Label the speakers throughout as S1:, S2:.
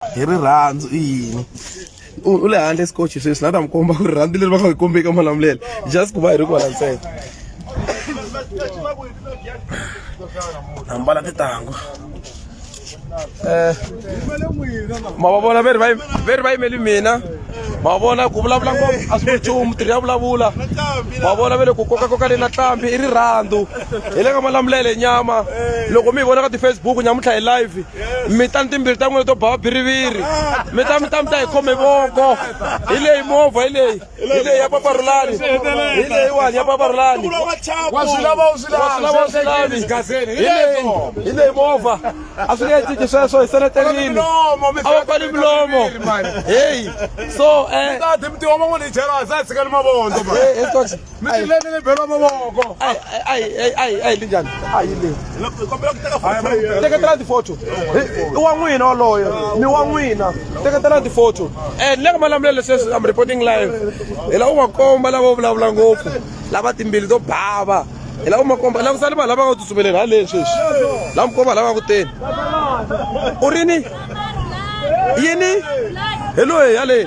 S1: hi rirhandzu i yini u le handle scotch sweswi na ta mi komba ku rirhandzu leri va nga hi kombeki malamulelo just ku va hi ri kwala ntsena ambala titangu um ma va vona ve ri va ve ri va yimeli mina ma vona ku vulavula ngopfu a swi nchumu tirhi ya vulavula ma vona ve le ku kokakoka le na tlambi i rirhandzu hi le ka malamulele nyama loko mi hi vona ka ti-facebook nyamuntlha hi live mi ta ni timbirhi ta n'wina to ba biriviri mi ta mi ta mi ta hi khome voko hi leyi movha hi leyi hi leyi ya paparulani hi leyiwani ya paparulani wa swi lava u swi lavi hi leyi hi leyi movha a swi nge he cinci sweswo hi seleterini a va pfali milomo heyi so um mi tileni ni belo mavoko ai ai ai ai ai linjani ai le teketela tifoto i wa n'wina waloyo ni wa n'wina teketela tifoto and le ka malamulelo leswi leswi am reporting live hi lava u va komba lava u vulavula ngopfu lava timbili to bava hi lava u ma komba lava sali vanhu lava nga ku tsutsumeleni ha leswi leswi lava mi komba lava nga ku teni u ri ni yini hi loyi yaleyi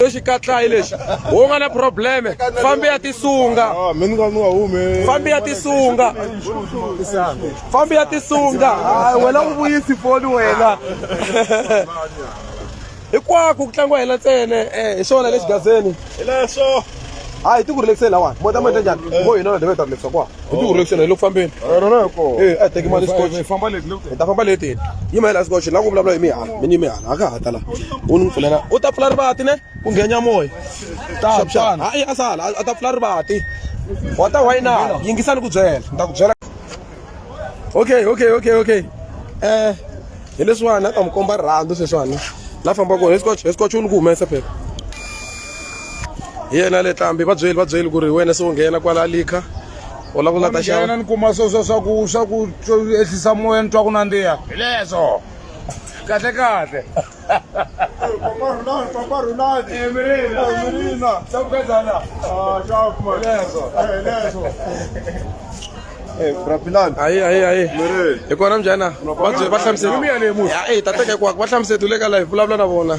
S1: lexi katlayi lexi wo nga na probleme fambi ya tisunga ah, fambi ya tisunga fambi ya tisunga ah, wena u vuyisi foni wena hinkwako ku tlangiwa hina ntsene eh, hi swona lexi gazeni hi leswo hayi ti ku rilekiseni lawani mota mota njhani vo hina na deve ta rilekisa kwa hi ti hurlekiseni hi le ku fambeni rona hi kona e a teki mali scotch hi famba leti hi ta famba leti yima hi la scotch la ku vulavula hi mihala mi ni mihala a ka ha ta la u ni pfulela u ta pfula rivati ne ku nghenya moya taxana hayi a sala a ta pfula rivati wa ta wayina yingisani ku byela ni ta ku byela okay okay okay okay eh hi leswiwani a ta mi komba rirhandzu sweswiwani la fambaka hi scotch hi scotch u ni ku humesa phela hi yena le tlambi va byeli va byeli ku ri wena se u nghena kwala likha u lava ku nga ta xava ni kuma swo swa swa ku
S2: swa ku ehlisa moya ni twa ku nandziha hi leswo kahle kahle
S1: hayi hayi hayi hi kona mjana va hlamuseta ta teka hinkwako va hlamuseta u le ka live vulavula na vona